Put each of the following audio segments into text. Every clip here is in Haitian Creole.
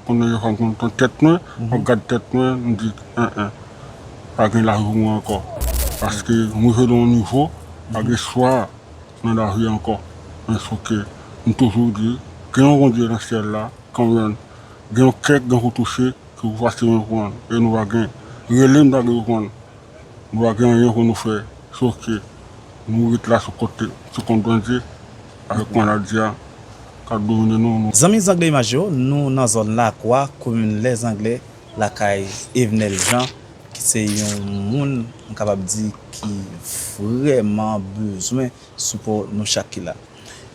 Konnen yo fè m konn ton tèt mwen, mwen gad tèt mwen, m di en en, pa gen lavi mwen ankò. Paske m rive nan yon nivo, pa gen chwa nan lavi ankò. Men souke, m toujou di, gen yon Bondye nan syèl la, konprann, gen yon kè ki gen pou touche, ki pou pase men pran l, e nou pa gen. Rele m ta gen pou pran l. Nou pa gen anyen pou nou fè sof ke nou ret la sou kont sou kont Bondye avèk maladi a kap domine nou. Nou. Zanmi Zangle Imaj yo, nou nan zòn Lakwa, komin Lèzangle, lakay Evenel Jean ki se yon moun m kapab di ki vrèman bezwen sipò nou chak ki la.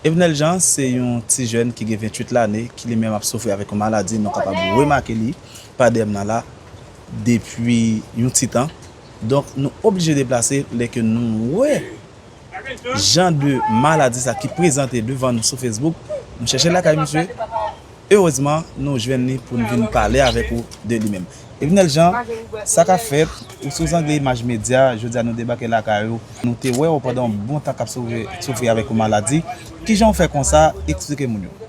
Evenel Jean se yon ti jèn ki gen 28 lane ki li menm ap soufri avèk yon maladi nou kapab remake li pa dèyè m nan la, depi yon ti tan, donk nou oblije deplase lè ke nou wè jan de maladi sa ki prezante devan nou sou Facebook, nou chèche lakay misye, erezman nou jwenn li pou nou vin pale avèk ou de li menm. Evinel Jean, sa ka fèt, ou sou zang Image Media, jodi a nou debake lakay ou, nou te wè ou pandan yon bon tan kap soufri avèk yon maladi, kijan ou fè konsa, eksplike moun yo.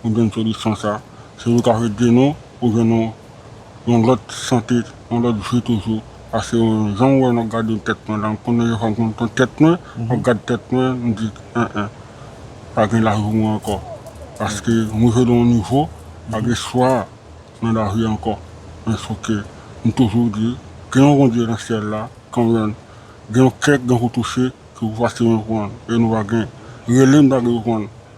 Pou jwenn solisyon sa, se yo kap ede nou pou jwenn yon yon lòt sante, yon lòt vi toujou. Paske jan ou wè nou gade tèt mwen la, m konnen yon fwa m konn pran tèt mwen, map gad tèt mwen, m di en en, pa gen lavi pou mwen ankò. Paske m rive nan yon nivo, pa gen espwa nan lavi ankò. Men souke, m toujou di, gen yon Bondye nan syèl la, kanmenm, gen yon kè k gen pou touche, ki pou pase men pran l, e nou pa gen. Rele m pa gen pou pran l.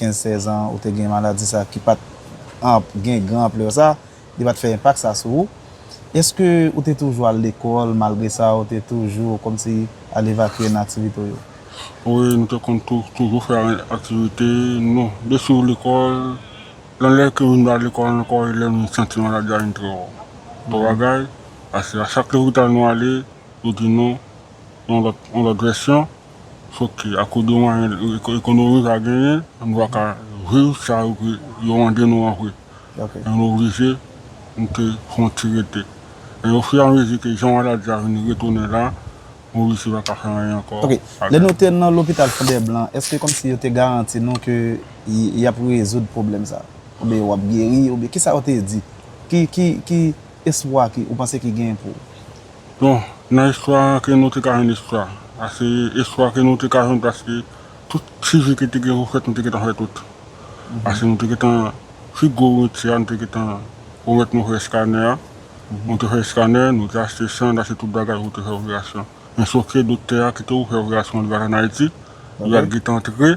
15, 16 an ou te gen maladi sa ki pat anp gen gran anplè sa, li pat fè enpak sa sou ou. Eske ou te toujou al lekòl malgre sa ou te toujou kòmsi al evakye nan aktivite w yo? Wi, m te konn toujou fè aktivite nou de swiv lekòl, yon lè ke vin ba lekòl ankò e lè m vin santi maladi a vin trè wòm. Bon bagay, pase a chak lopital nou ale yo di nou yon lòt vèsyon. Fòk akode mwayen ekonomi ka genyen pou nou va ka viv sa yo mande nou an vre. E nou oblije mete fon ti rete. E ofiramezi ke jan maladi a vin retounen la, nou oblije pa ka fè anyen ankò. Ok. Lè nou te nan lopital Fondèblan, èske kòmsi yo te garanti nou ke y ap rezoud pwoblèm sa a? Oubyen w ap geri? Oubyen kisa yo te di? Ki espwa ou panse ki genyen pou Bon, nan istwa an ke nou te ka jwenn istwa a se istwa ke nou te ka jwenn paske tout ti vi ke te gen pou fèt nou te gentan fè tout. Paske nou te gentan fi gwo wenti a nou te gentan pwomèt nou fè eskanè a. Nou te fè eskanè, nou te achte san, nou achte tout bagay pou te fè operasyon. Men sofke doktè a kite ou fè operasyon an li pa t an Ayiti, li pa t gentan antre.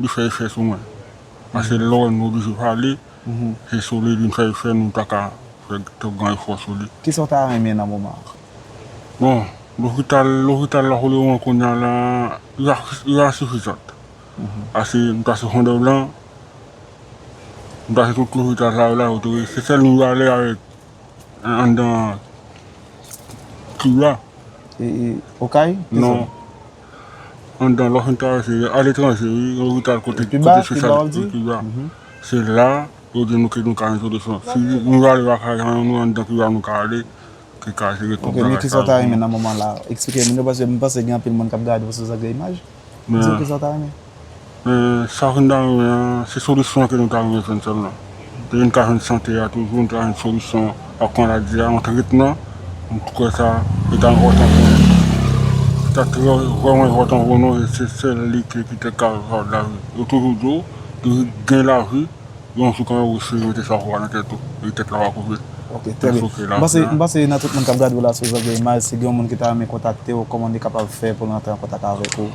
Li fè efè sou mwen. Paske lè ou wè nou oblije pale, se sou li vin fè efè nou pa ka fè twòp gran efò sou li. Kisa ou ta renmen nan moman an? Bon, lopital, lopital la kote mwen kounya la, li pa sifizant. Pase m pase Fondèblan, m pase tout lopital sa yo la, yo tou, se sèl nou ale avèk anndan tib la. E Okay? Non. anndan Los Angeles se a letranje wi, yon lopital kote espesyal pou Kiba. Se la yo di nou ke nou ka gen solisyon. Si nou ta ale lakay nou menm nou anndan Kiba nou ka ale ki ka jere tout bagay sa yo pou nou. Ok men kisa w ta renmen nan moman la? Eksplike m paske m panse gen anpil moun k ap gade w sou zak de imaj. Di m kisa w ta renmen? Men sa vin ba nou an, se solisyon ke nou ta rive jwenn sèlman. Depi nou ta jwenn sante a toujou, nou ta jwenn solisyon ak maladi a, yon tretman, m kwè sa li ta enpòtan pou nou. Li ta vrèman enpòtan pou nou e se sèl li ki petèt ka rezoud lavi. Yo toujou di w, pou w gen lavi, yon jou kanmenm resi mete chapo a nan tèt ou, e tèt la va koupe. Ok, trè byen. M panse nan tout moun k ap gade w la sou Zògèy Imaj, si gen yon moun ki ta renmen kontakte w, kòman li kapab fè pou l rantre an kontak avèk ou?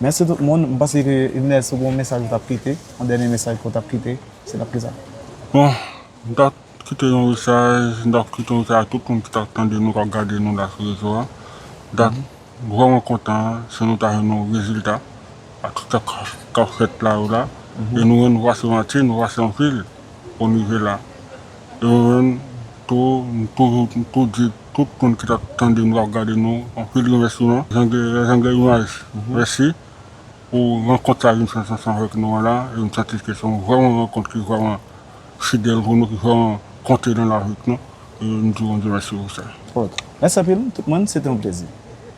Mèsi tout moun, m panse ke Ines ou gen yon mesaj ou tap kite, yon dènye mesaj ke w tap kite, se tap kisa? Bon, m tap kite yon mesaj, m tap kite yon mesaj a tout moun ki tap tande nou, kap gade nou la sou rezo a. M tap vrèman kontan si nou ta jwenn yon rezilta a tout sa kap fèt la yo la, e nou menm nou pase manti, nou pase anpil pou nou rive la. E mwen menm tou, m toujou, m tou di. Tout moun ki tap tande nou kap gade nou anpil remèsiman jan gen imaj mèsi pou rankont sa vin fè ansanm avèk nou an la e m santi ke se yon vrèman rankont ki vrèman fidèl pou nou ki vrèman konte nan lavi nou e m di Bondye mèsi pou sa. Mèsi anpil tout moun se te yon plezi.